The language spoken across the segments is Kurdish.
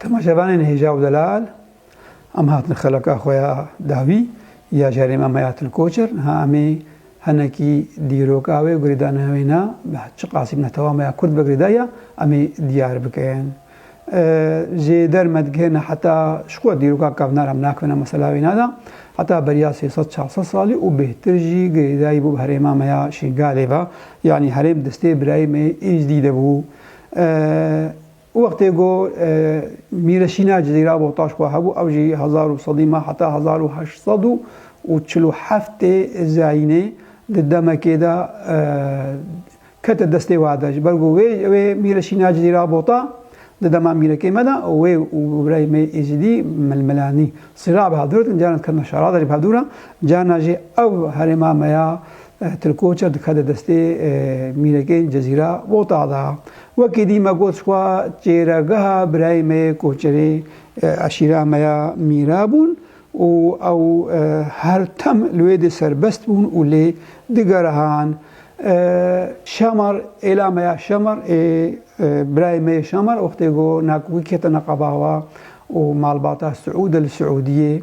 Temaşevanên hêja û delal em hatin xeleka xwe ya dawî ya ji herêma me ya Tilkoçer. Niha em ê hinekî dîroka wê û girêdana wê na bi çi qasî bina tewama ya Kurd vegirê da ya em ê diyar bikin. Ji derme digihêne heta ji xwe dîroka kevnar em nakevine mesela wê na da heta beriya sê sed çar sed salî û bêhtir jî girêdayî bû bi herêma me ya Şingalê ve. Yanî herêm destê birayê me yê Êjdî de bû. Û wextê ku Mîreşîna Cizîra Bohtaş xwe hebû ew jî hezar û sedî me heta hezar û heşt sed û çil û heftê zayînê di demekê de kete destê we de ji ber ku wê wê Mîreşîna Cizîra Bota di dema mîrekê me de wê û birayê me Êzidî milmilanî. Sîra bi hev dûr dikin carna dikerna şerada jî bi hev dûr e carna jî ew herêma me ya Tilkoçer dikeve destê mînekên Cezîra Vota de. Wekî dî me got xwe çêregeha birayê me yê koçerê eşîra me ya Mîra bûn û ew her tim li wê dê serbest bûn û lê digerihan Şamar êla me ya Şamar ê birayê me yê Şamar wextê ku Nakûkî ketina qebawa û malbata Siûd e li Siûdiyê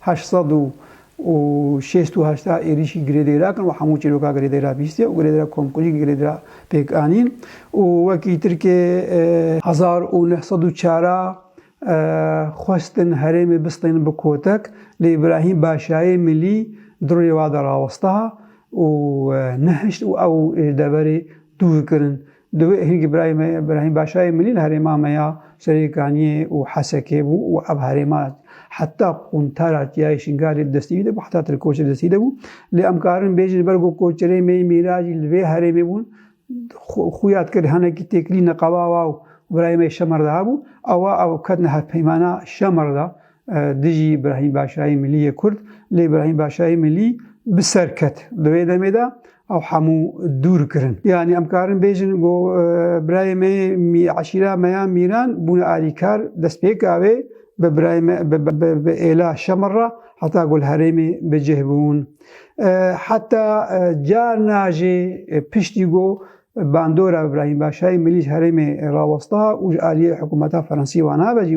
heşt sed û şêst û heşt êrîşî girêdayîra kirin û hemû çîroka girêdayîra bîstî û girêdayîra komkulî girêdayîra pêk anîn û wekî tirkê hezar û neh sed û çar a xwestin herêmê bistînin bi kotek lê Îbrahîm Başayê Milî di rûyê wa de rawestiha û nehişt û ew ji deverê dûr kirin Divê hingî birayê me Brahîm Başayê milî li herêma me ya Serêkaniyê û Hesekê bû û ev herêma heta quntara Tiyayê Şingalê di destî wî de bû, heta Tirkoçê di destî de bû. Lê em karin bêjin li ber ku koçerên me yên mîracî li vê herêmê bûn, xuya dikir hinekî têkilî neqebawa û birayê me yê Şemerdaha bû, awa ew ketine hevpeymana Şemerda. dijî Îbrahîm Başayê Milî yê Kurd, lê Îbrahîm Başayê Milî bi ser ket. Di wê demê de ew hemû dûr kirin. Yanî em karin bêjin ku birayê me yê eşîra me ya Mîran bûne alîkar destpêka wê bi birayê me bi êla Şemir re heta ku li herêmê bi cih bûn. Heta carna jî piştî ku bandora Îbrahîm Başayê Milî ji herêmê rawesta û ji aliyê hikûmeta Fransî wana ve jî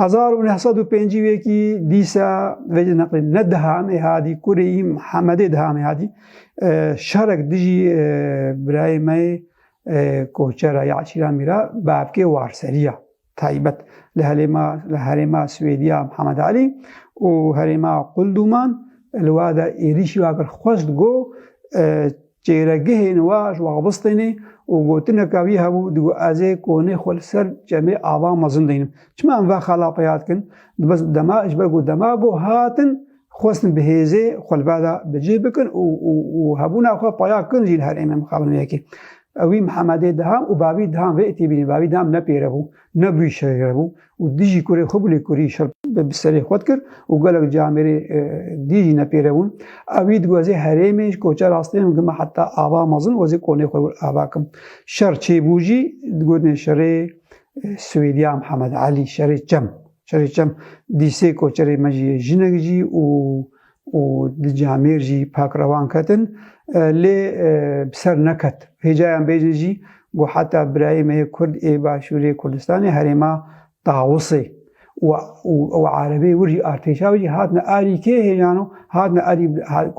Hezar û neh sed û pêncî wekî dîsa vê jî neqlîn ne di hamê hadî kurê îm Hemedê di hamê hadî şerek dijî birayê me yê koçera ya Eşîra Mîra bavkê warseriya taybet li helêma li herêma Swêdiya Hemed Alî û herêma Qulduman li wada êrîşî wakir xwest go Çêyregihên we ji Waxbistê ne û gotineke wî hebû, digot, Ez ê konê xwe li ser çemê ava mezin deynim. Çima em vexa lapeya dikin? Dibe dema ji ber ku dema ku hatin xwestin bi hêzê xwe li beda bi cih bikin û û hebûna xwe paya kin jî li her ême mixabin wê yekê. Ewî Mihemedê diham û bavî diham vê têbînin. Bavî diham ne pêre bû, ne bûyî şererebû, û dijî kurê xwe gulê kurî şer bi serê xwe dikir û gelek ci Amêrê dî jî nepêrebûn. Ew î diwezê herêmê ji koçer astê min gima heta ava mezin wezê konê xwe wir ava kim. Şer çêbû jî digotinê şerê Swêdya Mihemed Elî, şerê çem. Şerê çem dîsê koçerê me jî yê jinek jî û û di camêr jî pak rewan ketin lê bi ser neket. Hêcayan bêjin jî ku heta birayê me yê Kurd ê Başûrê Kurdistanê herêma Tawusê û erebê wir jî artêşa wir jî hatine arî kê hêjan û hatine arî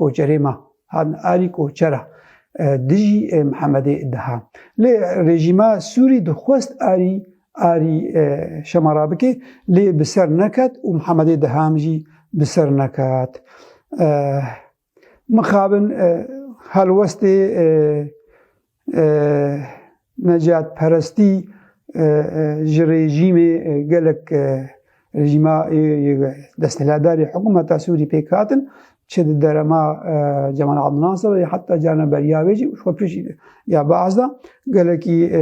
koçerê me hatine arî koçera dijî Mihemedê Diha lê rejîma Sûrî dixwest arî Arî şema rabikê lê bi ser neket û Mihemedê Deham jî bi ser neket. Mixabin helwestê necatperestî ji rejîmê gelek rejîma desthiladarê hikûmeta Sûrî pêk hatin çi di derema Cemal Abdinasir ya heta carna beriya wê jî xwe pişt ya baz da gelekî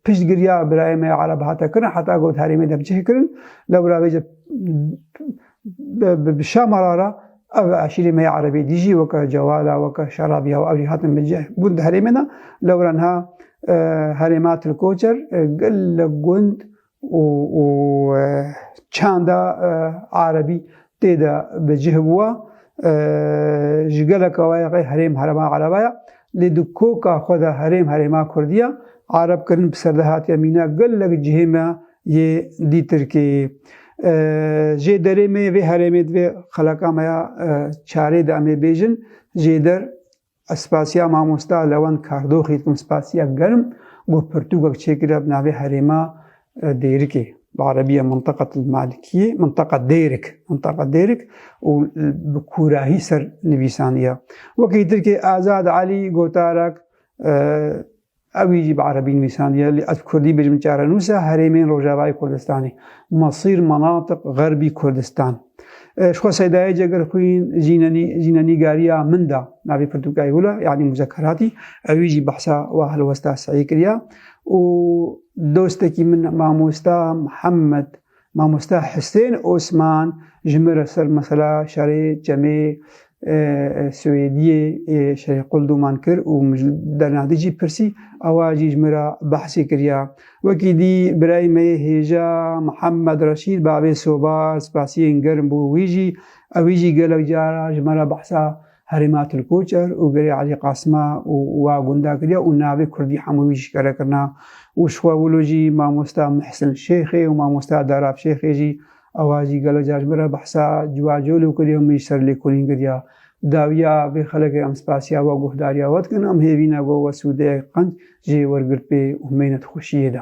piştgiriya birayê me Ereb hate kirin heta got herê me de bicih kirin lewra wê jî bi şamara ra ev aşîrê me Erebê dî jî weke cewala weke şerabiya û ewrî hatin bicih bûn di herê me de lewra niha herê me Tilkoçer gelek gund û û çanda Erebî tê de bi cih bûwa ji geleka we rê herêm herêma Ereba ye lê di koka xwe de herêm herêma Kurdî ye. Ereb kirin bi ser de hatiye mîna gelek cihê me yê dî Tirkê jê derê me yê vê herêmê divê xeleka me ya çarê de em ê bêjin jê der Ez spasiya mamosta Lewend Kardoxê dikim spasiya germ ku pirtûkek çêkiriya bi navê Herêma Dêrikê bi erebî Mintaqat El Malikîyê, Mintaqa Dêrik, Mintaqa Dêrik û bi kûrahî ser nivîsandiya. Wekî Tirkê Azad Elî gotarak Ewî jî bi erebî nivîsandiye lê ez bi kurdî bêjim çarenûs e herêmên Rojavayê Kurdistanê, Masîr, Manatîq, Xerbî Kurdistan. Ji xwe seydayê cegir xwîn jînenî jîne nîgariya min da navê pirtûkayê hûla yanî muzekeratî ewî jî behsa wa helwesta seyî kiriya û dostekî min mamosta Mihemed Mamosta Hisên Osman ji min re ser mesela şerê Çemê Swêdiyê ê şerê Qul doman kir û min ji Dernadî jî pirsî, awa jî ji min re behsê kiriya. Wekî dî birayê me yê hêja Mihemed Reşîd Bavê Soba spasiyên germ bû wî jî, ewî jî gelek cara ji me re behsa Herêma Tilkoçer û gerê Elî Qasima û wa gunda kiriye û navê Kurdî hemû wî jîkare kirina û ji xwe wilo jî mamosta Muhsin Şêxê û mamosta Darab Şêxê jî ewa jî gelo car ji min re behsa ciwa colo kiriye û min jî ser lêkolîn kiriya dawiya vê xelekê em spasiya we guhdariya we dikin em hêvîne got we sûdeyek qenc jê wergirt pê û himêne di xweşiyê de.